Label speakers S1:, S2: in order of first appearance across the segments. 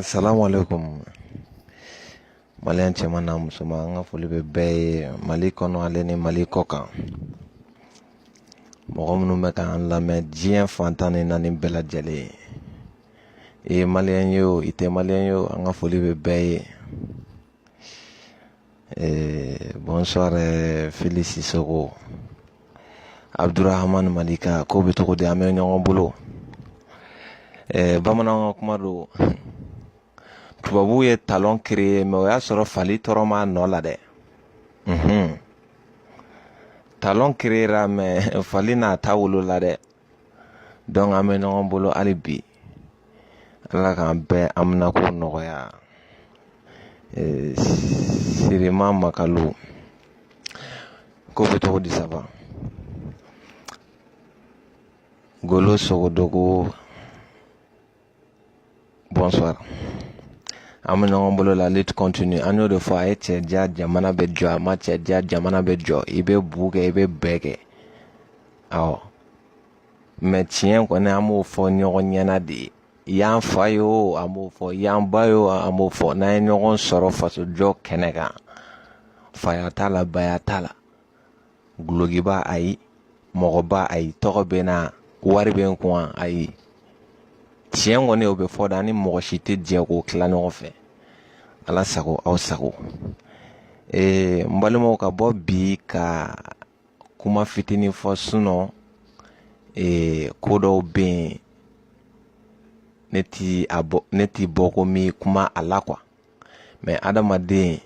S1: Assalamu alaikum maliyɛn cɛman n'a musoman an ka foli bɛ bɛɛ ye mali kɔnɔ ale ni mali kɔ kan mɔgɔ minnu bɛ k'an lamɛn diɲɛ fan tan ni naani bɛɛ lajɛlen i ye maliyɛn ye o i tɛ maliyɛn ye o an ka foli bɛ bɛɛ ye Eh, bonsoir eh, Fili Sissoko Abdourahmane Malika ko bɛ cogo di an bɛ ɲɔgɔn bolo eh, bamananw ka kuma don tubabuw ye talon créer mais o y'a sɔrɔ fali tɔrɔn b'a nɔ la dɛ mhm. talon créera mais fali n'a ta wolola dɛ dɔnku an bɛ ɲɔgɔn bolo hali bi ala k'an bɛɛ haminako nɔgɔya sirima makalo ko bɛ cogo di saba golo sogodogo bonsoir an bɛ ɲɔgɔn bolo la lutte continue an y'o de fɔ a ye cɛ diya jamana bɛ jɔ a ma cɛ diya jamana bɛ jɔ i bɛ bu kɛ i bɛ bɛɛ kɛ awɔ mɛ tiɲɛ kɔni an b'o fɔ ɲɔgɔn ɲɛna de i y'an fa ye o an b'o fɔ i y'an ba ye o an b'o fɔ n'an ye ɲɔgɔn sɔrɔ fasojɔ kɛnɛ kan faya t'a la baya t'a la dulɔkiba ayi mɔgɔba ayi tɔgɔ bɛ n na wari bɛ n kun ayi tiɲɛ kɔni o bɛ fɔ dɛ an ni mɔgɔ si tɛ jɛ k'o tila ɲɔgɔn fɛ ala sago aw sago ee n balimaw ka bɔ bi ka kuma fitinin fɔ sinɔn ee ko dɔw bɛ yen ne ti a bɔ ne ti bɔ ko n bi kuma a la kuwa mɛ adamaden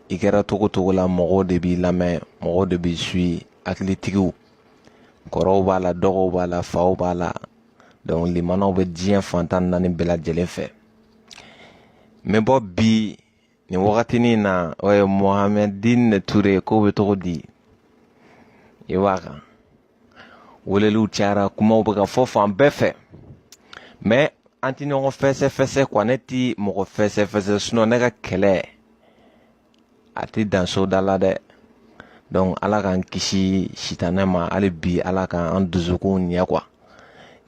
S1: i kɛra cogo cogo la mɔgɔw de b'i lamɛn mɔgɔw de b'i suivi hakilitigiw kɔrɔw b'a la dɔgɔw b'a la faw b'a la donc limanaw bɛ diɲɛ fan tan naani bɛɛ lajɛlen fɛ n bɛ bɔ bi nin wagatinin na o ye mohamɛdine ture ko bɛ cogo di i b'a kan weleliw cayara kumaw bɛ ka fɔ fan bɛɛ fɛ mɛ an tɛ ɲɔgɔn fɛsɛfɛsɛ kuwa ne tɛ mɔgɔ fɛsɛfɛsɛ sinɔn ne ka kɛlɛ a tɛ dan soda la dɛ donc ala k'an kisi sitanɛ ma hali bi ala k'an dusukun ɲɛ kuwa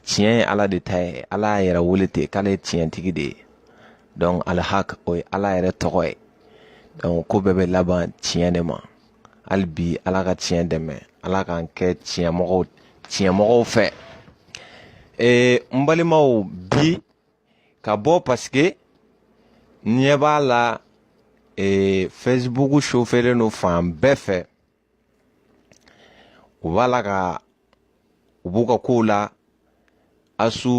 S1: tiɲɛ ye ala de ta ye ala y'a yɛrɛ wele ten k'ale ye tiɲɛtigi de ye donc alihak o ye ala yɛrɛ tɔgɔ ye donc ko bɛɛ bɛ laban tiɲɛ de ma hali bi ala ka tiɲɛ dɛmɛ ala k'an kɛ tiɲɛmɔgɔw tiɲɛmɔgɔw fɛ ee n balimaw bi ka bɔ paseke n ɲɛ b'a la ee fesibuku sofelen don fan bɛɛ fɛ u b'a la ka u b'u ka kow la asu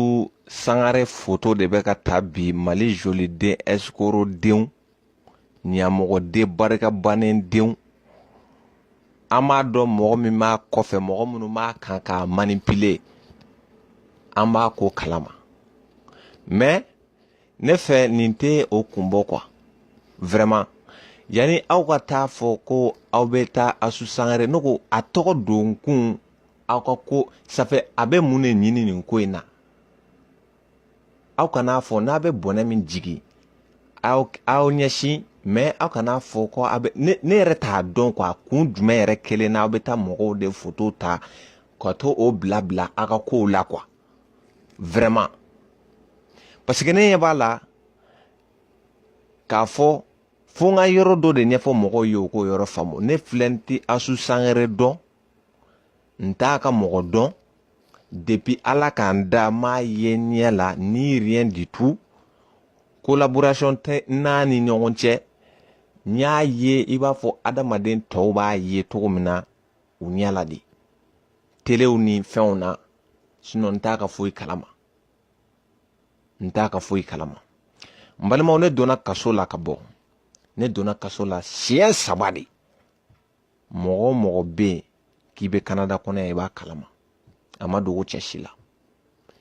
S1: sangare foto de bɛ ka ta bi mali joliden ɛsikorodenw ɲamɔgɔden barika bannen denw an b'a dɔn mɔgɔ min b'a kɔfɛ mɔgɔ minnu b'a kan k'a manipile an b'a ko kalama mɛ ne fɛ nin tɛ o kun bɔ quoi vraiment yanni aw ka t'a fɔ ko aw bɛ taa asu sangare ne ko a tɔgɔ don kun aw ka ko safɛ a bɛ mun de ɲini nin ko in na aw kana fɔ n'a bɛ bɔnɛ min jigin aw aw ɲɛsin mɛ aw kana fɔ ko a bɛ ne ne yɛrɛ t'a dɔn ko a kun jumɛn yɛrɛ kelen na aw bɛ taa mɔgɔw de foto ta ka to o bila bila aw ka kow la quoi vraiment parce que ne ɲɛ b'a la k'a fɔ fo n ka yɔrɔ dɔ de ɲɛfɔ mɔgɔw ye u k'o yɔrɔ faamu ne filɛ n tɛ asu sangare dɔn n t'a ka mɔgɔ dɔn depuis ala ka n da n m'a ye ɲɛ la ni rien du tout collaboration tɛ an ni ɲɔgɔn cɛ n y'a ye i b'a fɔ adamaden tɔw b'a ye cogo min na u ɲɛ la de telew ni fɛnw na sinɔn n t'a ka foyi kalama n t'a ka foyi kalama n balimaw ne donna kaso la ka bɔ ne donna kaso la siɲɛ saba de mɔgɔ o mɔgɔ bɛ yen k'i bɛ kanada kɔnɔ yan i b'a kalama a ma dogo cɛ si la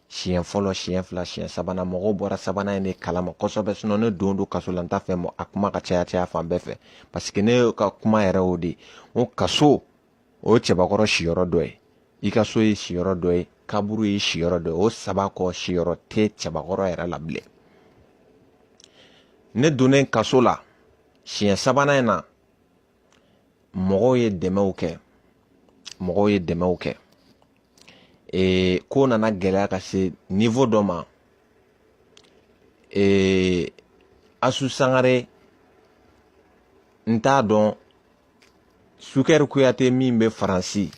S1: siɲɛ fɔlɔ siɲɛ fila siɲɛ sabanan mɔgɔw bɔra sabanan in de kalama kosɛbɛ sinɔn ne don don kaso la n t'a fɛ mɔ a kuma ka caya caya fan bɛɛ fɛ paseke ne ka kuma yɛrɛ o de o kaso o ye cɛbakɔrɔ siyɔrɔ dɔ ye i ka so ye siyɔrɔ dɔ ye kaburu ye siyɔrɔ dɔ ye o saba kɔ siyɔrɔ tɛ cɛbakɔrɔ yɛrɛ la bilen ne donnen kaso la siɲɛ sabanan in na mɔgɔw ye dɛmɛw kɛ mɔgɔw ye dɛmɛw kɛ ee ko nana gɛlɛya ka se nivo dɔ ma ee asu sangare n t'a dɔn sukɛri kuyate min bɛ faransi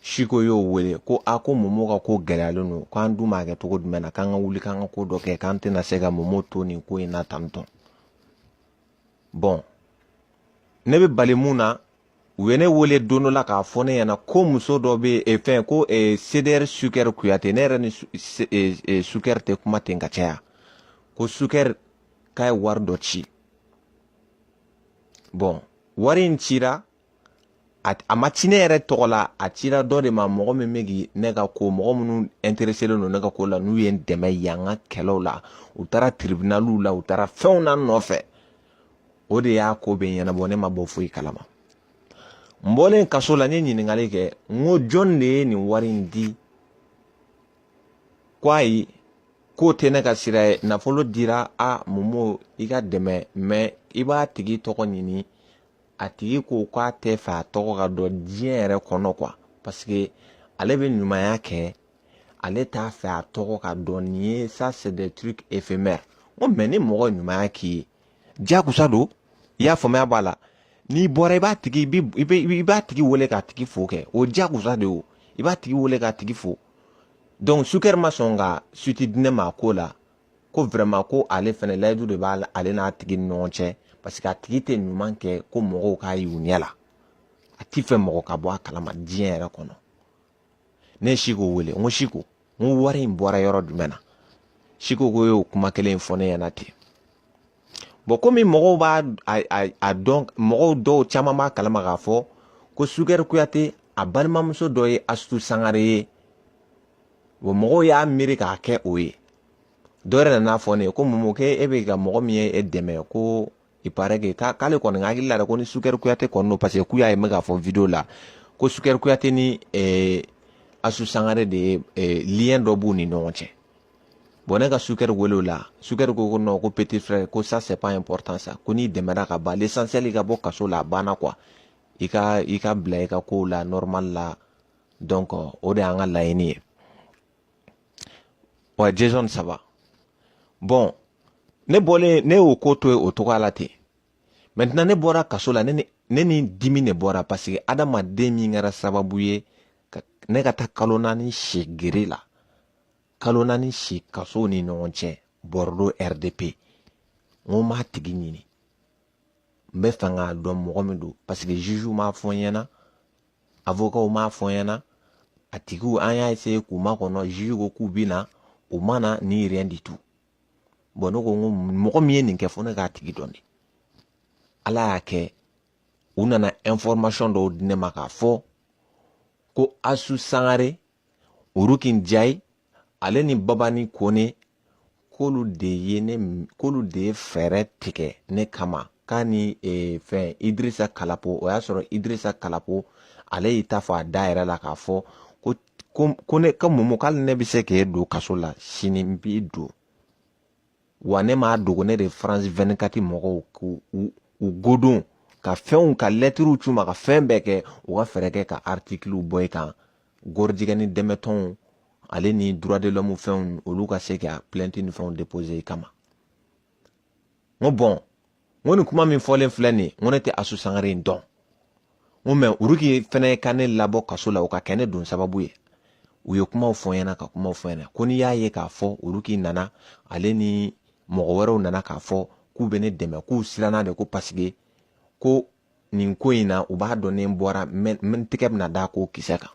S1: siko y'o wele ko a ko momo ka ko gɛlɛyalen don k'an dun b'a kɛ cogo jumɛn na k'an ka wuli k'an ka ko dɔ kɛ k'an tɛna se ka momo to nin ko in na tantɔn bɔn ne bɛ bali mun na u ye ne wele don dɔ la k'a fɔ ne ɲɛna ko muso dɔ bɛ e fɛn ko e, cdr sukɛri kuyate ne yɛrɛ ni sukɛri e, e, tɛ kuma ten ka caya ko sukɛri k'a ye wari dɔ ci bɔn wari in cira a ma ci ne yɛrɛ tɔgɔ la a cira dɔ de ma mɔgɔ min bɛ k'i ne ka ko mɔgɔ minnu intereselen don ne ka ko la n'u ye n dɛmɛ yan ka kɛlɛw la u taara tiribinaliw la u taara fɛnw na n nɔfɛ o de y'a ko bɛɛ ɲɛnabɔ ne ma bɔ foyi kalama n bɔlen kaso la n ye ɲininkali kɛ n ko jɔn de ye nin wari in di ko ayi k'o tɛ ne ka sira ye nafolo dira momo i ka dɛmɛ mɛ i b'a tigi tɔgɔ ɲini a tigi ko k'a tɛ fɛ a tɔgɔ ka dɔn diɲɛ yɛrɛ kɔnɔ kuwa paseke ale bɛ ɲumanya kɛ ale t'a fɛ a tɔgɔ ka dɔn nin ye ça c'est des trucs éphémères ko mɛ ni mɔgɔ ɲumanya k'i ye jakusa don i y'a faamuya b'a la n'i bɔra i b'a tigi i b'a tigi wele k'a tigi fo kɛ o jakusa de o i b'a tigi wele k'a tigi fo dɔnku sukɛri ma sɔn ka suite di ne ma a ko la ko vɛrɛma ko ale fɛnɛ layidu de bɛ ale n'a tigi ni ɲɔgɔn cɛ paseke a tigi tɛ ɲuman kɛ ko mɔgɔw k'a y'u ɲɛ la a t'a fɛ mɔgɔ ka bɔ a kalama diɲɛ yɛrɛ kɔnɔ ne ye siko wele n ko siko n ko wari in bɔra yɔrɔ jumɛn na siko ko y'o kuma kelen in fɔ ne ɲɛna ten bɔn komi mɔgɔw b'a dɔn mɔgɔw dɔw caman b'a kalama k'a fɔ ko sukɛri kuyate a balimamuso dɔ ye asutu sangare ye wa mɔgɔw y'a miiri k'a kɛ o ye dɔ yɛrɛ nan'a fɔ ne ye ko Momo ko e bɛ ka mɔgɔ min ye e dɛmɛ ko il paraît que k'ale kɔni ka hakili la dɛ ko ni Sukɛri Kuyate kɔni don parce que k'u y'a ye n bɛ k'a fɔ video la ko Sukɛri Kuyate ni ɛɛ Asu Sangare de ye ɛɛ lien dɔ b'u ni ɲɔgɔn cɛ bon ne ka Sukɛri wele o la Sukɛri ko ko non ko petit frère ko ça c'est pas important ça ko n'i dɛmɛra ka ban l'essentiel i ka bɔ kaso la a banna quoi i ka i ka bila i ka kow la normal la donc o de y'an ka laɲini ye wa jason saba bɔn ne bɔlen ne y'o ko to ye o cogoya la ten mɛntenan ne bɔra kaso la ne ni ne ni dimi de bɔra paseke adamaden min kɛra sababu ye ne ka taa kalo naani si gere la kalo naani si kasow ni ɲɔgɔn cɛ bordeaux rdp n ko n b'a tigi ɲini n b'a fɛ k'a dɔn mɔgɔ min don paseke zuzu m'a fɔ n ɲɛna avokaw m'a fɔ n ɲɛna a tigiw an y'a ese k'u makɔnɔ juge ko k'u bɛ na u ma na ni rien du tout bɔn ne ko n ko mɔgɔ min ye nin kɛ fo ne k'a tigi dɔn de ala y'a kɛ u nana information dɔw di ne ma k'a fɔ ko asu sangare oroki njayi ale ni babani kone k'olu de ye ne k'olu de ye fɛɛrɛ tigɛ ne kama k'a ni e, fɛn idirisa kalapo o y'a sɔrɔ idirisa kalapo ale y'i ta fɔ a da yɛrɛ la k'a fɔ ko ko ko ne ka mɔmɔ k'ale ne bɛ se k'e don kaso la sini n b'i don wa ne m'a dogo ne de faransi vɛnikati mɔgɔw k'u u godon ka fɛnw ka lɛtiriw c'u ma ka fɛn bɛɛ kɛ u ka fɛɛrɛ kɛ ka artikiliw bɔ i kan gɔrijigɛni dɛmɛtɔnw ale ni droit de l'homme fɛnw olu ka se ka plainte ni fɛnw déposer i kama n ko bɔn n ko nin kuma min fɔlen filɛ nin ye n ko ne tɛ asu sangare in dɔn n ko mɛ uruki fɛnɛ ka ne labɔ kaso la o ka kɛ ne don sababu ye u ye kumaw fɔ n ɲɛna ka kumaw fɔ n ɲɛna ko n'i y'a ye k'a fɔ uruki nana ale ni mɔgɔ wɛrɛw nana k'a fɔ k'u bɛ ne dɛmɛ k'u siranna de ko paseke ko nin ko in na u b'a dɔn ne bɔra n tɛgɛ bɛna da ko kisɛ kan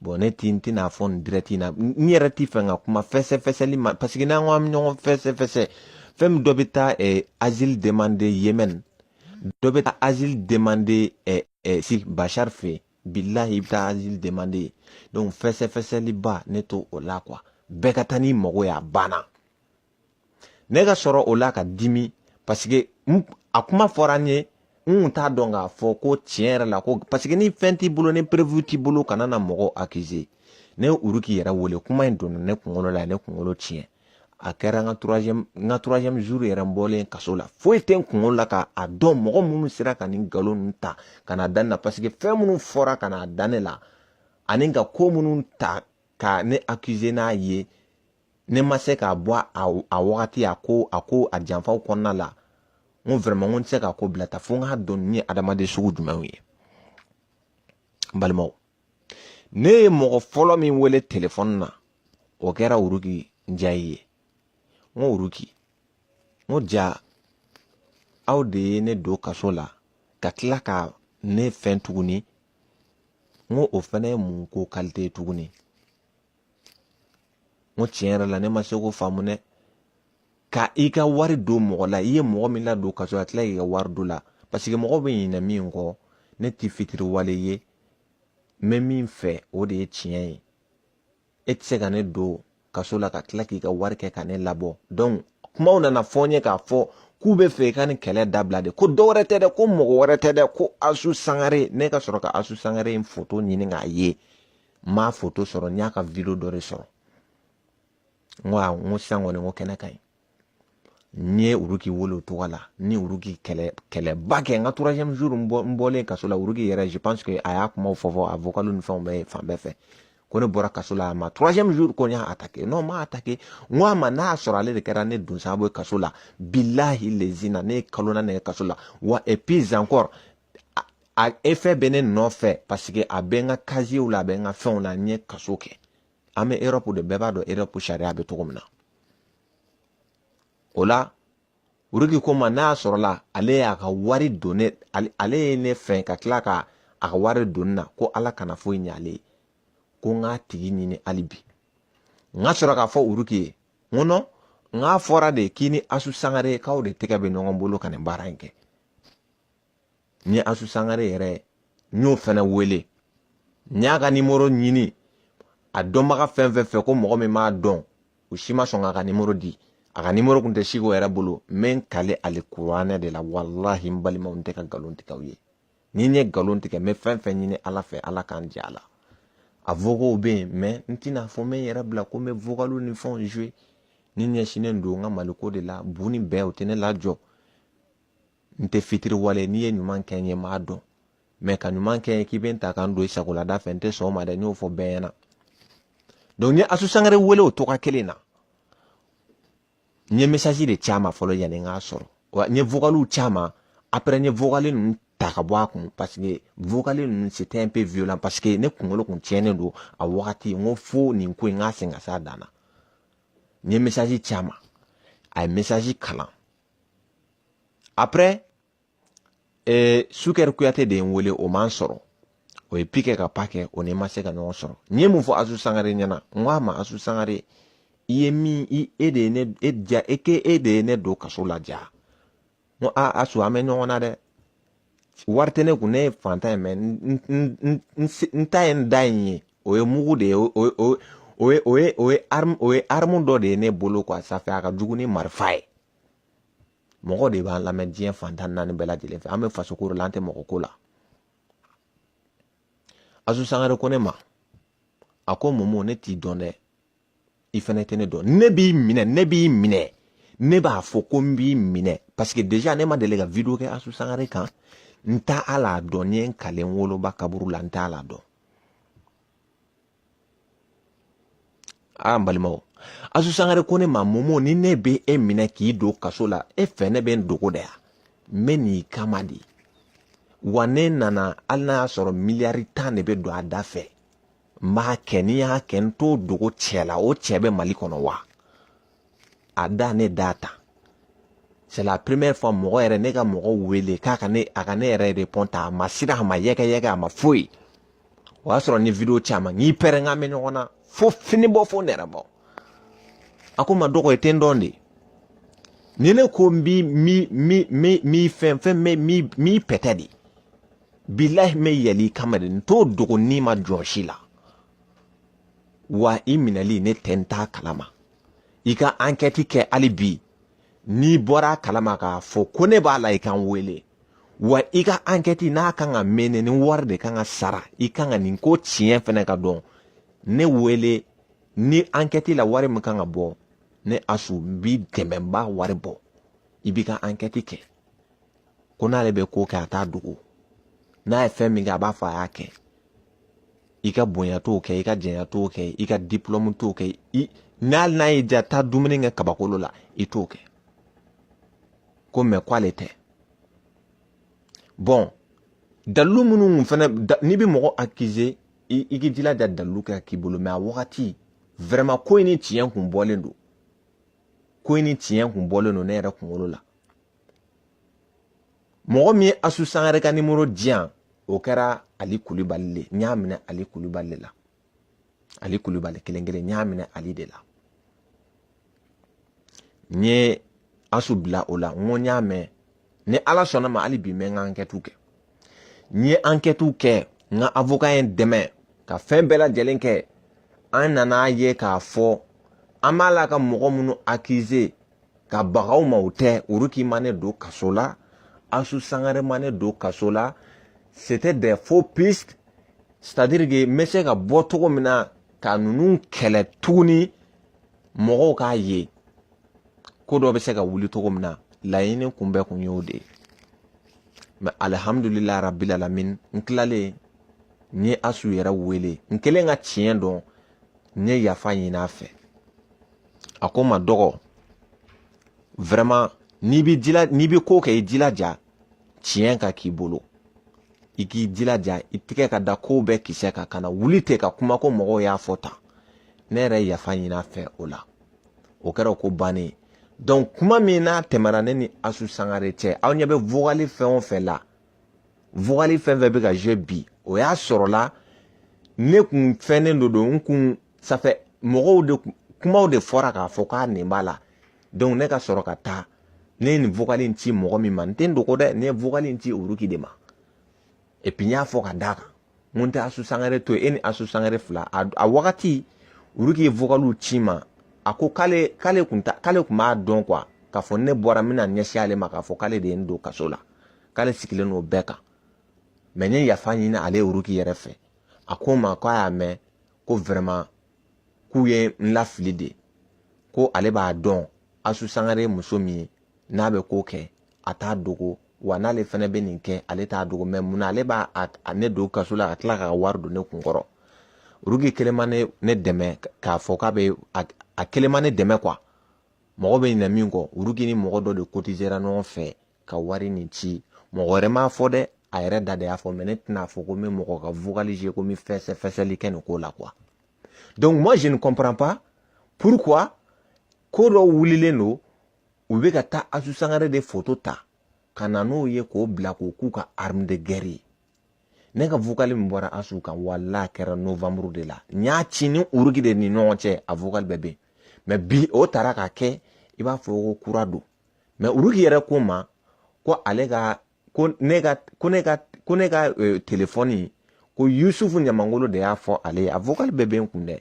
S1: bɔn ne ti n tɛna fɔ nin dirɛti na n yɛrɛ ti fɛ ka kuma fɛsɛfɛsɛli ma parce que n'an ko an bɛ ɲɔgɔn fɛsɛfɛsɛ fɛn min dɔ bɛ taa eh, asile demande yemen dɔ bɛ taa asile demande eh, eh, si bashar fɛ yen bilahi i bɛ taa asile demande yen donc fɛsɛfɛsɛliba ne t'o la quoi bɛɛ ka taa n'i mago ye a banna ne ka sɔrɔ o la ka dimi paseke a kuma fɔra n ye n kun t'a dɔn k'a fɔ ko tiɲɛ yɛrɛ la ko paseke ni fɛn t'i bolo ni perewu t'i bolo kana na mɔgɔw akize ne ye uruki yɛrɛ wele kuma in donna ne kunkolo la ne kunkolo tiɲɛ a kɛra n ka turazɛmu n ka turazɛmu zuru yɛrɛ n bɔlen kaso la foyi tɛ n kunkolo la k'a dɔn mɔgɔ minnu sera ka nin nkalon ninnu ta ka na da ne la paseke fɛn minnu fɔra ka na da ne la ani ka ko minnu ta ka ne akize n'a ye ne ma se k'a bɔ a wagati a ko a ko a janfaw kɔnɔna la n ko vraiment ko n tɛ se k'a ko bila tan fo n k'a dɔn nin adamaden sugu jumɛnw ye n balimaw ne ye mɔgɔ fɔlɔ min wele telefɔni na o kɛra uruki njayi ye n ko uruki n ko jaa aw de ye ne don kaso la ka tila ka ne fɛn tuguni n ko o fana ye mun ko kalite ye tuguni n ko tiɲɛ yɛrɛ la ne ma se k'o faamu dɛ ka i ka wari don mɔgɔ la i ye mɔgɔ min ladon kaso la ka tila k'i ka wari don a la paseke mɔgɔ bɛ ɲinɛ min kɔ ne tɛ fitiriwale ye n bɛ min fɛ o de ye tiɲɛ ye e tɛ se ka ne don kaso la ka tila k'i ka wari kɛ ka ne labɔ donc kumaw nana fɔ n ye k'a fɔ k'u bɛ fɛ i ka nin kɛlɛ dabila de ko dɔ wɛrɛ tɛ dɛ ko mɔgɔ wɛrɛ tɛ dɛ ko asu sangare ne ka sɔrɔ ka asu sangare in foto ɲini k'a ye n m'a foto sɔrɔ n y'a ka video dɔ de sɔrɔ n ko a n ko sisan kɔni n ko kɛnɛ ka ɲi n ye uruki wele o tɔgɔ la ni uruki kɛlɛ kɛlɛba kɛ n ka troisième jour n bɔ n bɔlen kaso la uruki yɛrɛ je pense que a y'a kumaw fɔ fɔ a vocal ni fɛnw bɛɛ fan bɛɛ fɛ ko ne bɔra kaso la a ma troisième jour ko n y'a attaqué non n m'a attaqué n ko a ma n'a y'a sɔrɔ ale de kɛra ne don sababu ye kaso la bilahi lezina ne ye kalo naani kɛ kaso la wa et puis encore a efɛ bɛ ne nɔfɛ paseke a bɛ n ka kaziyew la a bɛ n ka fɛnw la n ye kaso kɛ an bɛ erɔpu de bɛɛ b'a dɔn erɔpu sariya bɛ cogo min na o la uriki ko n ma n'a sɔrɔla ale y'a ka wari don ne ale ye ne fɛ ka tila ka a ka wari don na ko ala kana foyi ɲɛ ale ye ko n k'a tigi ɲini hali bi n ka sɔrɔ k'a fɔ uriki ye n ko nɔn n k'a fɔra de k'i ni asu sangare k'aw de tɛgɛ bɛ ɲɔgɔn bolo ka nin baara in kɛ n ye asu sangare yɛrɛ ye n y'o fɛnɛ wele n y'a ka nimoro ɲini a dɔnbaga fɛn fɛn fɛ ko mɔgɔ min b'a dɔn u si ma sɔn k'a ka nimoro di a ka nimoro kun tɛ siko yɛrɛ bolo n bɛ n kali alikuranɛ de la walahi n balimaw n tɛ ka nkalon tigɛ aw ye ni n ye nkalon tigɛ n bɛ fɛn fɛn ɲini ala fɛ ala ka n jɛ a la a vokow bɛ yen mɛ n tɛna fɔ n bɛ n yɛrɛ bila ko n bɛ vokaliw ni fɛnw jouer ne ɲɛsinnen don n ka maliko de la bu ni bɛɛ o tɛ ne lajɔ n tɛ fitiriwale n'i ye ɲuman kɛ n ye n b'a dɔn mɛ ka ɲuman kɛ k'i bɛ n ta ka n don i sago la da fɛ n tɛ sɔn o ma dɛ n y'o fɔ bɛɛ ɲɛna donc n ye asu sangare wele o tɔgɔ kelen na n ye message de ci a ma fɔlɔ yanni n k'a sɔrɔ wa n ye vocaliw ci a ma après n ye vocal ninnu ta ka bɔ a kun parce que vocal ninnu c'était un peu violent parce que ne kunkolo kun tiɲɛnen don a wagati n ko fo nin ko in n k'a sen ka s'a dan na n ye message ci a ma a ye message kalan après eh, sukɛri kuyate de ye n wele o ma n sɔrɔ o ye pi kɛ ka pa kɛ o ni n ma se ka ɲɔgɔn sɔrɔ n ye mun fɔ asu sangare ɲɛna n ko a ma asu sangare i ye min i e de ye ne e ja e ke e de ye ne don kaso la ja n ko a asu an bɛ ɲɔgɔn na dɛ wari tɛ ne kun ne ye fantan ye mɛ n ta ye n da in ye o ye mugu de ye o ye o ye o ye o ye arme o ye arme dɔ de ye ne bolo quoi ça fait a ka jugu ni marifa ye mɔgɔ de b'an lamɛn diɲɛ fan tan ni naani bɛɛ lajɛlen fɛ an bɛ faso ko la an tɛ mɔgɔ ko la asu sangare ko ne ma a ko momo ne t'i dɔn dɛ i fɛnɛ tɛ ne dɔn ne b'i minɛ ne b'i minɛ ne b'a fɔ ko n b'i minɛ parce que déjà ne ma deli ka video kɛ asu sangare kan n t'a la dɔn n ye n kali n woloba kaburu la n t'a la dɔn aa n balimaw asu sangare ko ne ma momo ni ne bɛ e minɛ k'i don kaso la e fɛ ne bɛ n dogo de ya n bɛ n'i kama de wa ne nana hali n'a y'a sɔrɔ miliyari tan de bɛ don a da fɛ n b'a kɛ ni n y'a kɛ n t'o dogo cɛ la o cɛ bɛ mali kɔnɔ wa a da ne da ta c'est la première fois mɔgɔ yɛrɛ ne ka mɔgɔ wele k'a ka ne a ka ne yɛrɛ repond ta a ma siran a ma yɛkɛ yɛkɛ a ma foyi o y'a sɔrɔ ni video caman n'i pɛrɛn ka mɛ ɲɔgɔn na fo fini bɔ fo nɛrɛ bɔ a ko n ma dɔgɔ i tɛ n dɔn de ni ne ko n bi mi mi mi mi fɛn fɛn mɛ mi mi pɛtɛ de bilahi n bɛ yɛlɛ i kama de n t'o dogo n'i ma jɔsi la wa i minɛli ne tɛ n t'a kalama i ka ankɛti kɛ hali bi n'i bɔra a kalama k'a fɔ ko ne b'a la i ka n wele wa i ka ankɛti n'a kan ka mɛnɛ ni wari de kan ka sara i kan ka nin ko tiɲɛ fɛnɛ ka dɔn ne wele ni ankɛti la wari min kan ka bɔ ne asu b'i dɛmɛ n b'a wari bɔ i b'i ka ankɛti kɛ ko n'ale bɛ ko kɛ a t'a dogo n'a ye fɛn min kɛ a b'a fɔ a y'a kɛ i ka bonya t'o kɛ i ka janya t'o kɛ i ka dipulɔmu t'o kɛ i n'ali n'a ye ja taa dumuni kɛ kabakolo la i t'o kɛ ko mɛ ko ale tɛ bɔn dalilu minnu kun fɛnɛ n'i bɛ mɔgɔ akize i i k'i jilaja dalilu ka k'i bolo mɛ a wagati vraiment ko in ni tiɲɛ kun bɔlen don ko in ni tiɲɛ kun bɔlen don ne yɛrɛ kunkolo la mɔgɔ min ye asu sangare ka nimoro di yan o kɛra ali kulubali le n y'a minɛ ali kulubali le la ali kulubali kelen kelen n y'a minɛ ali de la n ye asu bila o la n ko n y'a mɛn ni ala sɔnna ma hali bi n bɛ n ka ankɛtiw kɛ n ye ankɛtiw kɛ n ka avoka ye n dɛmɛ ka fɛn bɛɛ lajɛlen kɛ an nana ye k'a fɔ an b'a la ka mɔgɔ minnu akize ka baga u ma o tɛ uruki ma ne don kaso la asu sangare ma ne don kaso la c'était des faux pistes c'est à dire que n bɛ se ka bɔ cogo min na ka ninnu kɛlɛ tuguni mɔgɔw k'a ye ko dɔ bɛ se ka wuli cogo min na laɲini kun bɛɛ kun y'o de ye mɛ alihamudulila rabil alamin n tilalen n ye asu yɛrɛ wele n kɛlen ka tiɲɛ dɔn n ye yafa ɲini a fɛ a ko n ma dɔgɔ vraiment n'i bɛ jila n'i bɛ ko kɛ i jilaja tiɲɛ ka k'i bolo i k'i jilaja i tigɛ ka da kow bɛɛ kisɛ kan kana wuli ten ka kuma ko mɔgɔw y'a fɔ tan ne yɛrɛ ye yafa ɲini a fɛ o la o kɛra o ko bannen ye donc kuma min n'a tɛmɛna ne ni asu sangare cɛ aw ɲɛ bɛ vocal fɛn o fɛn la vokali fɛn o fɛn bɛ ka je bi o y'a sɔrɔla ne kun fɛnnen don don n kun sanfɛ mɔgɔw de kumaw de fɔra k'a fɔ k'a nin b'a la ne ka sɔrɔ ka taa ne ye nin vokali in ci mɔgɔ min ma n tɛ n dogo dɛ ne ye vokali in ci oroki de ma epi n y'a fɔ ka d'a kan mun tɛ asu sangare to e ni asu sangare fila a wagati uruki ye vokaliw ci n ma a ko k'ale k'ale kun ta k'ale kun b'a dɔn kuwa k'a fɔ ne bɔra n bɛna ɲɛsin ale ma k'a fɔ k'ale de ye n don kaso la k'ale sigilen don o bɛɛ kan mɛ n ye yafa ɲini ale uruki yɛrɛ fɛ a ko n ma k'a y'a mɛn ko vɛrɛma k'u ye n lafili de ko ale b'a dɔn asu sangare ye muso min ye n'a bɛ ko kɛ a t'a dogo wa n'ale fana bɛ nin kɛ ale t'a dogo mɛ mun na ale b'a a ne don kaso la ka tila ka wari don ne kun kɔrɔ rugi kelen ma ne ne dɛmɛ k'a fɔ k'a bɛ a kelen ma ne dɛmɛ kuwa mɔgɔ bɛ ɲinɛ min kɔ rugi ni mɔgɔ dɔ de kotisera ɲɔgɔn fɛ ka wari nin ci mɔgɔ wɛrɛ m'a fɔ dɛ a yɛrɛ da de y'a fɔ mɛ ne tɛna fɔ ko n bɛ mɔgɔ ka vugalize ko n bɛ fɛsɛfɛsɛli kɛ nin ko la kuwa donc moi je ne comprends pas pourquoi ko dɔw wulilen don u bɛ ka taa asu sangare de foto ta ka na n'o ye k'o bila k'o k'u ka arme de guerre ye ne ka vokali min bɔra asu kan wala kɛra novembre de la n y'a ci ni uruki de ni ɲɔgɔn cɛ a vokali bɛɛ bɛ yen mɛ bi o taara k'a kɛ i b'a fɔ ko kura don mɛ uruki yɛrɛ ko n ma ko ale ka ko ne ka ko ne ka ko ne ka euh, telefɔni ko yusufu ɲamangolo de y'a fɔ ale ye a vocal bɛɛ bɛ n kun dɛ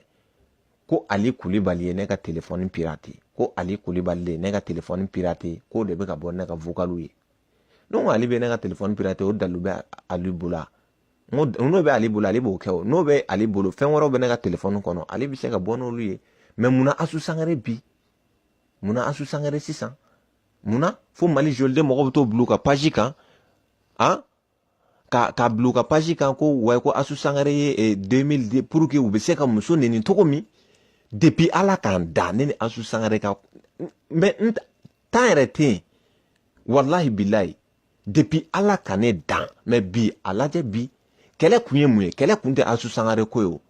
S1: ko ali kulibali ye ne ka telefɔni pirate ko ali kulibali de ye ne ka telefɔni pirate k'o de bɛ ka bɔ ne ka vokaliw ye ne ko ale bɛ ne ka telefɔni pirate o dalu bɛ ali bolo n ko n'o bɛ ale bolo ale b'o kɛ o n'o bɛ ale bolo fɛn wɛrɛw bɛ ne ka telefɔni kɔnɔ ale bɛ se ka bɔ n'olu ye mɛ munna asu sangare bi munna asu sangare sisan munna fo mali joli denw mɔgɔ bɛ t'o bil'u ka paji kan a ka k'a bil'u ka paji kan ko wa ko asu sangare ye eh, 2000 pour que u bɛ se ka muso neni cogo min depuis ala k'an da ne ni asu sangare ka mɛ tan yɛrɛ tɛ yen walahi bilayi depi ala ka ne dan mɛ bi a lajɛ bi kɛlɛ kun ye mun ye kɛlɛ kun tɛ asu sangare ko ye o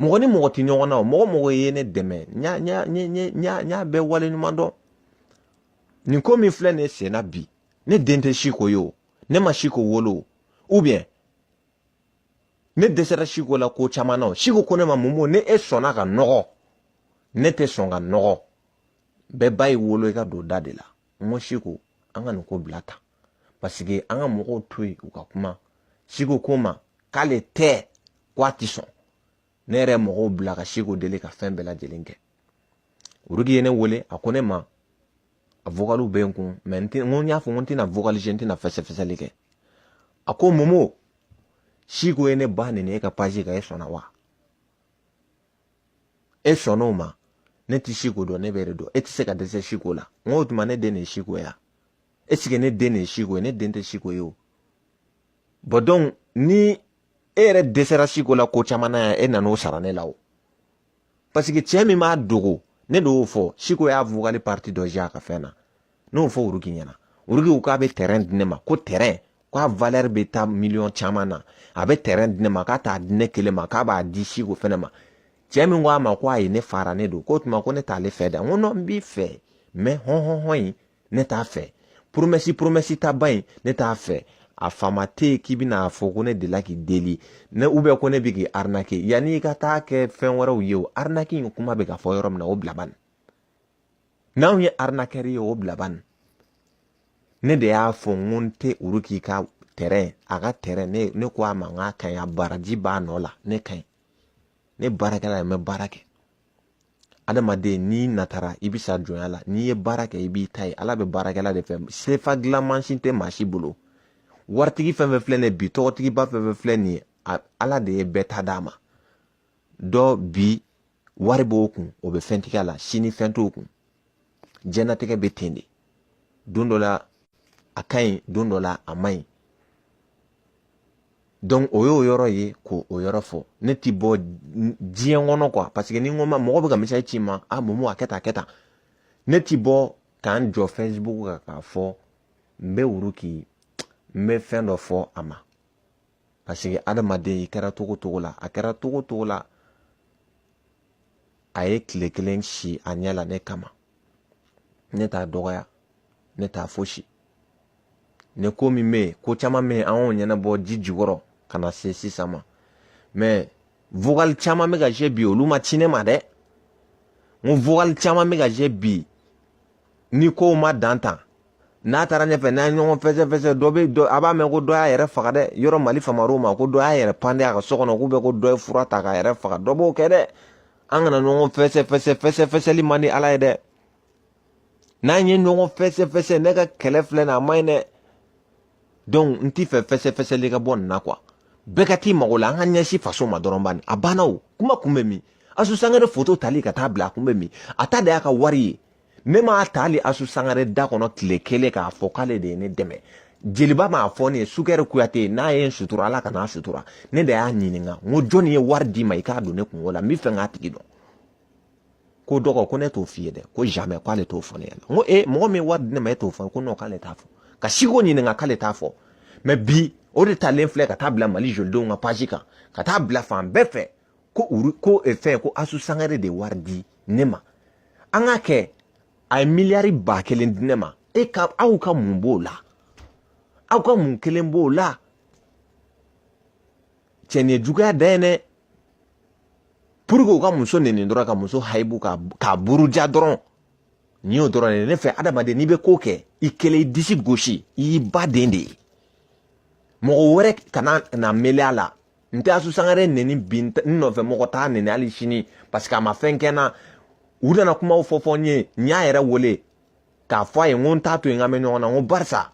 S1: mɔgɔ ni mɔgɔ tɛ ɲɔgɔn na o mɔgɔ o mɔgɔ ye ne dɛmɛ n y'a bɛɛ waleɲumandɔn nin ko min filɛ ne senna bi ne den tɛ si ko ye o ne ma si ko wolo o ubiyɛn ne dɛsɛra si ko la ko caman na o si ko ko ne ma mun bɔ n'e sɔnna ka nɔgɔ ne tɛ sɔn ka nɔgɔ bɛɛ ba y'i wolo i ka don da de la n ko siko an ka nin ko bila tan paseke an ka mɔgɔw to yen u ka kuma siko ko n ma k'ale tɛ ko a ti sɔn ne yɛrɛ mɔgɔw bila ka siko deli ka fɛn bɛɛ lajɛlen kɛ woroki ye ne wele a ko ne ma a vokaliw bɛ n kun mɛ n tɛ n ko n y'a fɔ n ko n tɛna vokali ci n tɛna fɛsɛfɛsɛli kɛ a ko momo siko ye ne ba neni e ka pazi kan e sɔnna wa e sɔnn'o ma ne tɛ siko dɔn ne bɛ e de dɔn e tɛ se ka dɛsɛ siko la n ko o tuma ne den de ye siko ye est-ce que ne den de ye siko ye ne den tɛ siko ye o bɔn dɔnku ni e yɛrɛ dɛsɛra siko la ko caman na yan e nan'o sara ne la o parce que cɛ min b'a dogo ne de y'o fɔ siko y'a vokali parti dɔ jouer a ka fɛn na n y'o fɔ woroki ɲɛna woroki ko k'a bɛ tɛrɛn di ne ma ko tɛrɛn k'a valɛri bɛ taa miliyɔn caman na a bɛ tɛrɛn di ne ma k'a t'a di ne kelen ma k'a b'a di siko fɛnɛ ma cɛ min ko a ma ko a ye ne fara ne don k'o tuma ko ne t'ale fɛ dɛ n ko nɔ n b'i fɛ mɛ hɔnhɔnhɔn in ne t'a fɛ poromɛsi poromɛsi ta ba in ne t'a fɛ a faama tɛ yen k'i bɛna a fɔ ko ne delila k'i deli ne ou bien ko ne bɛ k'i arinake yanni i ka taa kɛ fɛn wɛrɛw ye o arinaki in kuma bɛ ka fɔ yɔrɔ min na o bila bani n'anw ye arnaqueur ye o bila ban ne de y'a fɔ n ko n tɛ woroki ka tɛrɛn a ka tɛrɛn ne ne ko a ma n k'a ka ɲi a baraji b'a nɔ la ne kɔni ne baarakɛla ye n bɛ baara kɛ adamaden n'i natara i bɛ sa jɔnya la n'i ye baara kɛ i b'i ta ye ala bɛ baarakɛla de fɛ sefa dilan mansin tɛ maa si bolo waritigi fɛn fɛn filɛ nin ye bi tɔgɔtigiba fɛn fɛn filɛ nin ye ala de ye bɛɛ ta d'a ma dɔ bi wari b'o kun o bɛ fɛntigiya la sini fɛn t'o kun jɛnatigɛ bɛ ten de don dɔ la a ka ɲi don dɔ la a man ɲi donc o y'o yɔrɔ ye k'o yɔrɔ fɔ ne ti bɔ diɲɛ kɔnɔ quoi parce que ni n ko ma mɔgɔ bɛ ka mesazi ci n ma a momo a kɛ tan a kɛ tan ne ti bɔ ka n jɔ facebook kan k'a fɔ n bɛ woroki n bɛ fɛn dɔ fɔ a ma parce que adamaden i kɛra cogo cogo la a kɛra cogo cogo la a ye tile kelen si a ɲɛ la ne kama ne t'a dɔgɔya ne t'a fosi ne ko min bɛ yen ko caman bɛ yen an y'o ɲɛnabɔ ji jukɔrɔ ka na se sisan ma mɛ vokali caman bɛ ka jouer bi olu ma ci ne ma dɛ n vokali caman bɛ ka jouer bi ni kow ma dan tan n'a taara ɲɛfɛ n'an ye ɲɔgɔn fɛsɛfɛsɛ dɔ bɛ dɔ a b'a mɛn ko dɔ y'a yɛrɛ faga dɛ yɔrɔ mali famar'o ma ko dɔ y'a yɛrɛ pande a ka so kɔnɔ ou bien ko dɔ ye fura ta k'a yɛrɛ faga dɔ b'o kɛ dɛ an kana ɲɔgɔn fɛsɛfɛsɛ fɛsɛfɛsɛli man di ala ye dɛ n'an ye ɲɔgɔn fɛsɛfɛsɛ ne ka kɛlɛ filɛ nin a man ɲi dɛ donc n t'i fɛ fɛsɛfɛsɛli ka bɔ nin na kuwa bɛɛ ka t'i mago la an ka ɲɛsin faso ma dɔrɔn bani a banna o kuma kun bɛ min asu sangare foto tali ka taa bila a kun bɛ min a ta de y'a ka wari ye ne m'a ta hali asu sangare da kɔnɔ tile kelen k'a fɔ k'ale de ye ne dɛmɛ jeliba m'a fɔ ne ye sukɛri kuyate n'a ye n sutura ala k'a fana sutura ne de y'a ɲininka n ko jɔnni ye wari d'i ma i k'a don ne kunko la n b'a fɛ k'a tigi dɔn ko dɔgɔ ko ne t'o f'i ye dɛ ko jamais k'ale t'o fɔ ne ɲɛna n ko e mɔgɔ min ye wari di ne ma e t'o fɔ ko non k'ale t'a fɔ ka siko ɲininka k'ale t'a fɔ mɛ bi o de talen filɛ ka taa bila mali jolidenw ka page kan ka taa bila fan bɛɛ fɛ ko ko eh, fɛn ko asu sangare de wari di ne ma an k'a kɛ a ye miliyari ba kelen di ne ma e ka aw ka mun b'o la aw ka mun kelen b'o la cɛ nin ye juguya dan ye dɛ pour que u ka muso neni dɔrɔn ka muso hayibu k'a buruja dɔrɔn nin y'o dɔrɔn de ye ne fɛ adamaden n'i bɛ ko kɛ i kelen i disi gosi i y'i ba den de ye mɔgɔ wɛrɛ kana na mele a la n tɛ asu sangare neni bi n nɔfɛ mɔgɔ t'a neni hali sini parce que a ma fɛn kɛ n na u nana kumaw fɔ fɔ n ye n y'a yɛrɛ wele k'a fɔ a ye n ko n t'a to yen an ka mɛn ɲɔgɔn na n ko barisa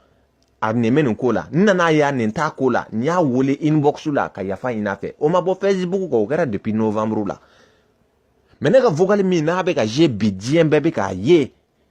S1: a nin bɛ nin ko la n nan'a ye a nin t'a ko la n y'a wele inbox la ka yafa ɲini a fɛ o ma bɔ facebook kan o kɛra depuis novembre la mɛ ne ka vocal min n'a bɛ ka ye bi diɲɛ bɛɛ bɛ k'a ye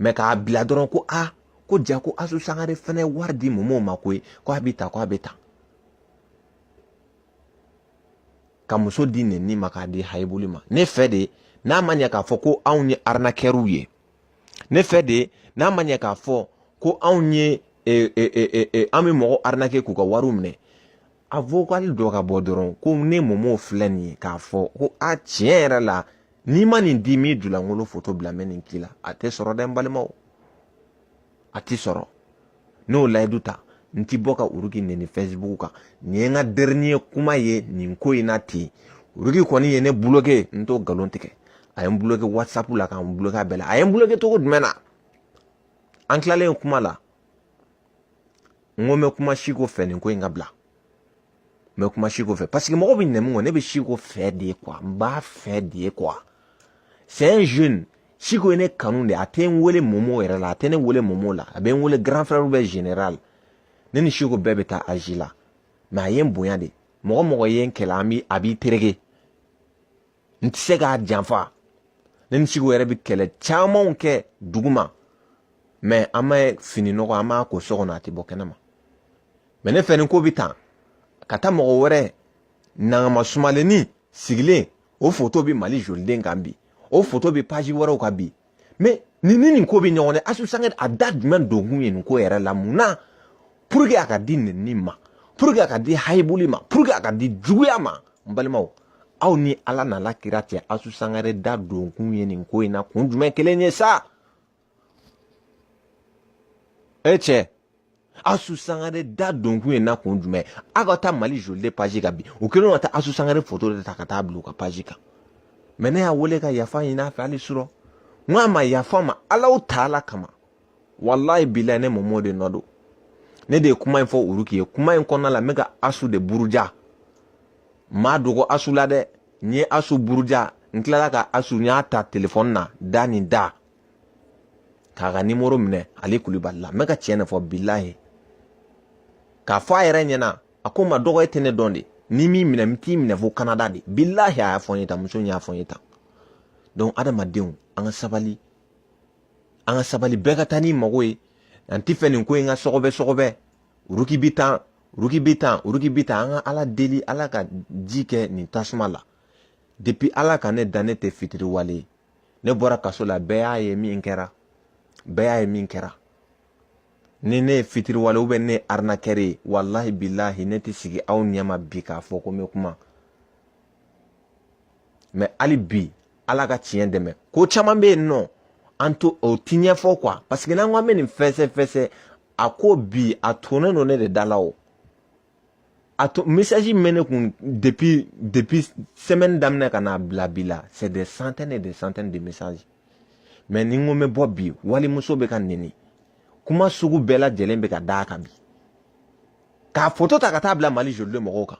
S1: mɛ k'a bila dɔrɔn ko a ko jaa ko asu sangare fɛnɛ wari di mɔmɔ ma koyi ko a bɛ taa ko a bɛ taa ka muso di neni ma k'a di hayibuli ma ne fɛ de n'a ma ɲɛ k'a fɔ ko anw ye arinakɛriw ye ne fɛ de n'a ma ɲɛ k'a fɔ ko anw ye e, e, e, an bɛ mɔgɔ arinake k'u ka wariw minɛ a vokali dɔ ka bɔ dɔrɔn ko ne mɔmɔ filɛ nin ye k'a fɔ ko a tiɲɛ yɛrɛ la n'i ma nin di n b'i julankolo foto bila mɛ nin k'i la a tɛ sɔrɔ dɛ n balimaw a ti sɔrɔ ne y'o layidu ta n ti bɔ ka uruki neni fɛsibuku kan nin ye n ka dernier kuma ye nin ko in na ten uruki kɔni ye ne buloke n t'o nkalon tigɛ a ye n buloke whatsapp la ka n buloke a bɛɛ la a ye n buloke cogo jumɛn na an tilalen kuma la n ko n bɛ kuma siko fɛ nin ko in ka bila n bɛ kuma siko fɛ paseke mɔgɔ bɛ ɲinɛ min kɔ ne bɛ siko fɛ de kuwa n b'a fɛ de kuwa c'est un jeune siko ye ne kanu de a tɛ n wele mɔmɔ yɛrɛ la a tɛ ne wele mɔmɔ la a bɛ n wele grand frère bɛ général ne ni siko bɛɛ bɛ taa azi la mɛ a ye n bonya de mɔgɔ mɔgɔ ye n kɛlɛ an bi a b'i tereke n tɛ se k'a janfa ne ni siko yɛrɛ bɛ kɛlɛ camanw kɛ duguma mɛ an bɛ fini nɔgɔ an b'a ko so kɔnɔ a tɛ bɔ kɛnɛma mɛ ne fɛ ni ko bɛ tan ka taa mɔgɔ wɛrɛ nangama sumalenni sigilen o foto bɛ mali joliden kan bi o foto bɛ paji wɛrɛw kan bi mɛ ni ni nin ko bɛ ɲɔgɔn na asu sangare a da jumɛn donkun ye nin ko yɛrɛ la mun na pour que a ka di nenni ma pour que a ka di hayibuli ma pour que a ka di juguya ma n balimaw aw ni ala n'a la kira cɛ asu sangare da donkun ye nin ko in na kun jumɛn kelen ye sa e cɛ asu sangare da donkun ye na kun jumɛn aw ka taa mali joliden paji kan bi u kɛlen ka taa asu sangare foto de ta ka taa bila u ka paji kan mɛ ne y'a wele ka yafa ɲini a fɛ hali surɔ n ko a ma yafa n ma alaw ta ala kama walayi bilahi ne mɔmɔ de nɔ don ne de ye kuma in fɔ olu k'i ye kuma in kɔnɔna la n bɛ ka asu de buruja n m'a dogo asu la dɛ n ye asu buruja n tilala ka asu n y'a ta telefɔni na da nin da k'a ka nimoro minɛ ale kulubali la n bɛ ka tiɲɛ de fɔ bilahi k'a fɔ a yɛrɛ ɲɛna a ko n ma dɔgɔ e tɛ ne dɔn dɛ ni min minɛ n t'i minɛ fo kanada de bilahi a y'a fɔ n ye tan muso in y'a fɔ n ye tan donc adamadenw an ka sabali an ka sabali bɛɛ ka taa n'i mago ye an ti fɛ nin ko in ka sɔgɔbɛ sɔgɔbɛ uruki bi tan uruki bi tan uruki bi tan an ka ala deli ala ka ji kɛ nin tasuma la depuis ala ka ne dan ne tɛ fitiriwale ye ne bɔra kaso la bɛɛ y'a ye min kɛra bɛɛ y'a ye min kɛra ni ne ye fitiriwale ou bien ne ye arinakɛre ye walahi bilahi ne tɛ sigi aw ɲɛma bi k'a fɔ ko n bɛ kuma mɛ hali bi ala ka tiɲɛ dɛmɛ ko caman bɛ yen nɔ an to o ti ɲɛfɔ kuwa paseke n'an ko an bɛ nin fɛsɛ fɛsɛ a ko bi a tolen don ne de da la o a to message min bɛ ne kun depuis depuis semaine daminɛ ka n'a bila bi la c'est des centaines et des centaines de messages mais ni n ko n bɛ bɔ bi walimuso bɛ ka nɛni kuma sugu bɛɛ lajɛlen bɛ ka d'a kan bi k'a foto ta ka taa bila mali joliden mɔgɔw kan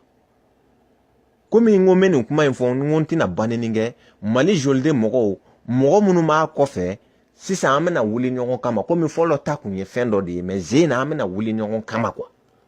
S1: komi n ko n bɛ nin kuma in fɔ n ko n tɛna banni kɛ mali joliden mɔgɔw mɔgɔ minnu b'a kɔfɛ sisan an bɛna wuli ɲɔgɔn kama komi fɔlɔ ta kun ye fɛn dɔ de ye mɛ nin sen na an bɛna wuli ɲɔgɔn kama kuwa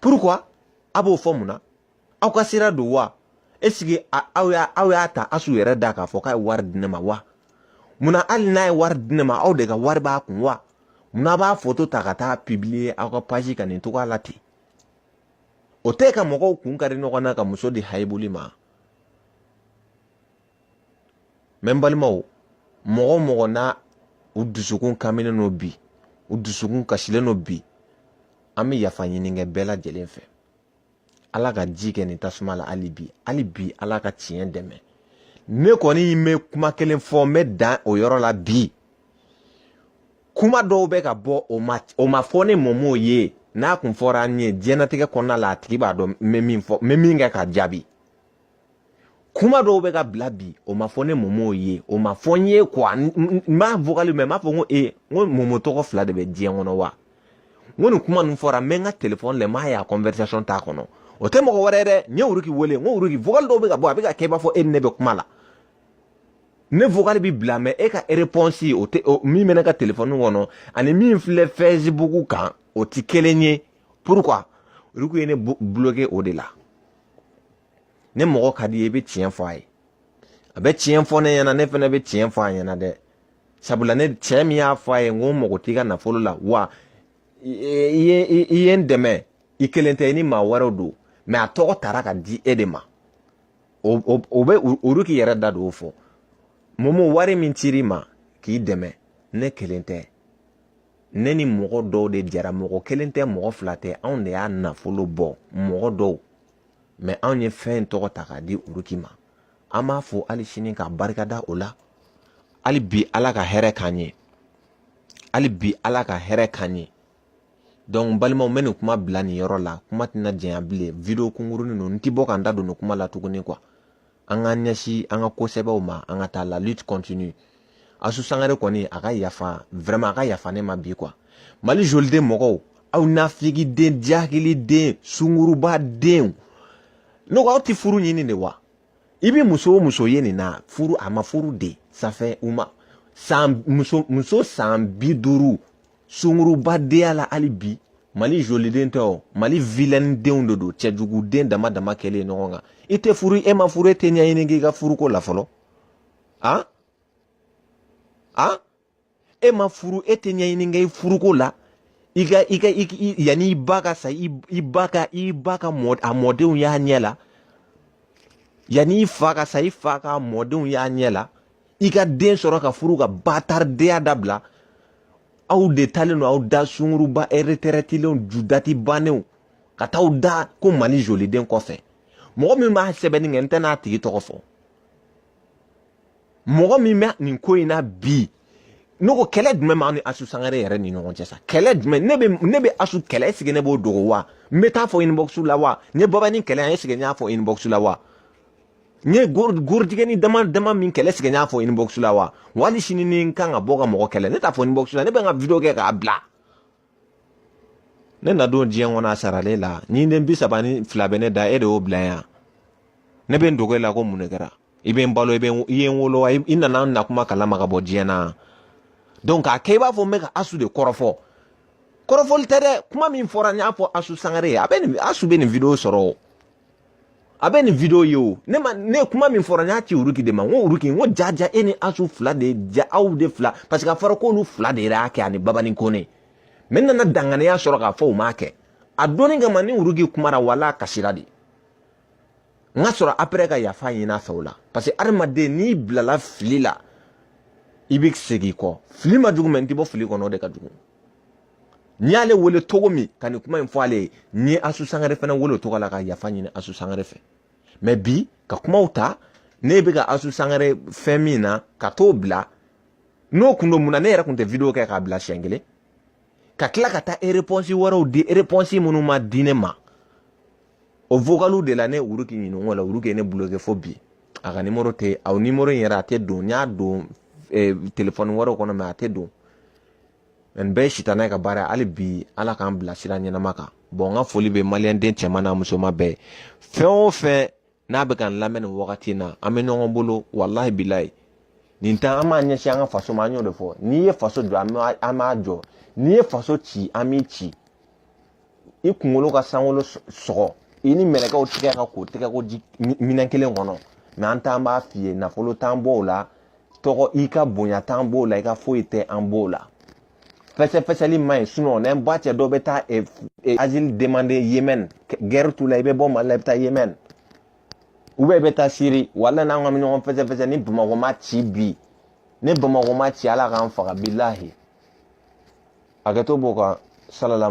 S1: pourquoi a b'o fɔ mun na aw ka sira don wa est ce que aw y'a aw y'a ta asu yɛrɛ da k'a fɔ k'a ye wari di ne ma wa mun na hali n'a ye wari di ne ma aw de ka wari b'a kun wa mun na a b'a foto ta ka taa publier aw ka page kan nin cogoya la ten o tɛ ka mɔgɔw kun kari ɲɔgɔn na ka muso di hayibuli ma mɛ n balimaw mɔgɔ o mɔgɔ n'aw dusukun kaminen don bi u dusukun kasilen don bi an bɛ yafa ɲini kɛ bɛɛ lajɛlen fɛ ala ka ji kɛ nin tasuma la hali bi hali bi ala ka tiɲɛ dɛmɛ ne kɔni bɛ kuma kelen fɔ n bɛ dan o yɔrɔ la bi kuma dɔw bɛ ka bɔ o ma o ma fɔ ne mɔmɔ ye n'a kun fɔra n ye diɲɛlatigɛ kɔnɔna la a tigi b'a dɔn n bɛ min fɔ n bɛ min kɛ k'a jaabi kuma dɔw bɛ ka bila bi o ma fɔ ne momo ye o ma fɔ n ye quoi n b'a vokali mɛ n b'a fɔ n ko ee n ko momo tɔgɔ fila de bɛ diɲɛ kɔnɔ wa n ko nin kuma ninnu fɔra n bɛ n ka telefɔni lɛ n b'a ye a conversation t'a kɔnɔ o tɛ mɔgɔ wɛrɛ dɛ n ye wuruki wele n ko wuruki vokali dɔw bɛ ka bɔ a bɛ ka kɛ i b'a fɔ e ni ne bɛ kuma la ne vokali bɛ bila mais e ka réponse o tɛ min bɛ ne ka telefɔni kɔnɔ ani min filɛ facebook kan o tɛ kelen ye pourquoi olu ye ne bloquer o de la ni mɔgɔ ka di i ye i bɛ tiɲɛ fɔ a ye a bɛ tiɲɛ fɔ ne ɲɛna ne fana bɛ tiɲɛ fɔ a ɲɛna dɛ sabula ne cɛ min y'a fɔ a ye n ko n mago t'i ka nafolo la wa i ye i ye n dɛmɛ i kelen tɛ i ni maa wɛrɛw don mais a tɔgɔ tara ka di e de ma o o bɛ uruki i yɛrɛ da don o fɔ momo wari min cir'i ma k'i dɛmɛ ne kelen tɛ ne ni mɔgɔ dɔw de jɛra mɔgɔ kelen tɛ mɔgɔ fila tɛ anw de y'a nafolo bɔ mɔgɔ dɔw mais anw ye fɛn in tɔgɔ ta k'a di uruki ma an b'a fɔ hali sini ka barika da o la hali bi ala ka hɛrɛ k'an ye hali bi ala ka hɛrɛ k'an ye donc balimaw n bɛ nin kuma bila nin yɔrɔ la kuma tɛna janya bilen video kunkurunin ninnu n tɛ bɔ ka n da don nin kuma la tuguni quoi an k'an ɲɛsin an ka ko sɛbɛw ma an ka taa la lutte continue asu sangare kɔni a ka yafa vraiment a ka yafa ne ma bi quoi mali joliden mɔgɔw aw nafigiden jahiliden sunguruba denw ne ko aw tɛ furu ɲini de wa i bɛ muso o muso ye nin na furu a ma furu de sanfɛ u ma san muso muso san bi duuru sunguruba deya la hali bi mali joliden tɛ o mali vilɛnin denw de don cɛjuguden dama dama kɛlen ɲɔgɔn kan i tɛ furu e ma furu e tɛ ɲɛɲini kɛ i ka furuko la fɔlɔ a a e ma furu e tɛ ɲɛɲini kɛ i furuko la i ka i ka yanni i ba ka sa i ba ka i ba ka mɔ a mɔdenw y'a ɲɛ la yanni i fa ka sa i fa ka mɔdenw y'a ɲɛ la i ka den sɔrɔ ka furu ka bataridenya dabila aw de talen don aw da sunguruba retraitelenw ju dati bannenw ka taa da ko mali joliden kɔfɛ mɔgɔ min b'a sɛbɛnni kɛ n tɛn'a tigi tɔgɔ fɔ mɔgɔ min bɛ nin ko in na bi ne ko kɛlɛ jumɛn b'an ni asu sangare yɛrɛ ni ɲɔgɔn cɛ sa kɛlɛ jumɛn ne bɛ ne bɛ asu kɛlɛ est-ce que ne b'o dogo wa n bɛ taa fɔ inbox la wa ne babani kɛlɛ yan est-ce que n y'a fɔ inbox la wa n ye gorotiginin dama dama min kɛlɛ est-ce que n y'a fɔ inbox la wa hali sini ni n kan ka bɔ ka mɔgɔ kɛlɛ ne t'a fɔ inbox la ne bɛ n ka video kɛ k'a bila ne na don diɲɛ kɔnɔ a saralen la ɲinden bi saba ni fila bɛ ne da e de y'o bila yan ne bɛ n dogo e la ko mun de kɛra i bɛ n balo i bɛ i ye n wolo wa i nana n na kuma kalama ka bɔ diɲɛ na donc k'a kɛ i b'a fɔ n bɛ ka asu de kɔrɔfɔ kɔrɔfɔli tɛ dɛ kuma min fɔra n y'a fɔ asu sangare ye a bɛ nin asu bɛ nin video sɔrɔ a bɛ nin video ye o ne ma ne kuma min fɔra n y'a ci uruki de ma n ko uruki n ko jaja e ni asu fila de jaa aw de fila parce que a fɔra k'olu fila de y'a kɛ ani babani kone mɛ n nana danganiya sɔrɔ k'a fɔ u m'a kɛ a donni kama ni uruki kumara wala a kasira de n ka sɔrɔ apɛrɛ ka yafa ɲini a fɛ o la parce que adamaden n'i bilala fili la i bɛ segin kɔ fili man jugu mɛ n tɛ bɔ fili kɔnɔ o de ka jugu n y'ale wele cogo min ka nin kuma in fɔ ale ye n ye asu sangare fana wele o tɔgɔ la ka yafa ɲini asu sangare fɛ mɛ bi ka kumaw ta ne bɛ ka asu sangare fɛn min na ka t'o bila n'o kun don mun na ne yɛrɛ kun tɛ video kɛ k'a bila siɲɛ kelen ka tila ka taa ereponsi wɛrɛw di ereponsi minnu ma di ne ma o vocaliw de la ne uruki ɲininka o la uruki ye ne bloke fo bi a ka nimoro tɛ aw nimoro in yɛrɛ a tɛ don n y'a don telefɔni wɛrɛw kɔnɔ mɛ a tɛ don nin bɛɛ ye sitanɛ ka baara ye hali bi ala k'an bila sira ɲɛnama kan bɔn n ka foli bɛ maliyɛnden cɛman n'a musoman bɛɛ fɛn o fɛn n'a bɛ ka n lamɛn nin wagati in na an bɛ ɲɔgɔn bolo walahi bilayi nin ta an b'a ɲɛsin an ka faso ma an y'o de fɔ n'i ye faso jɔ an b'a jɔ n'i ye faso ci an b'i ci i kunkolo ka sankolo sɔgɔ i ni mɛlɛkɛw tigɛ ka ko tɛgɛkoji minɛn kelen kɔnɔ mɛ an t'an b'a f'i ye nafolo t'an b'o la tɔgɔ i ka bonya t'an b'o la i ka foyi tɛ an b'o la fɛsɛfɛsɛli man ɲi sinɔn n'an ba cɛ dɔ bɛ taa azili demande yemɛn gɛri t'u la i bɛ bɔ mali la i bɛ taa yemɛn u bɛ i bɛ taa siri wala n'an ka ɲɔgɔn fɛsɛfɛsɛ ni bamakɔ ma ci bi ni bamakɔ ma ci ala k'an faga bilahi hakɛto b'o kan salala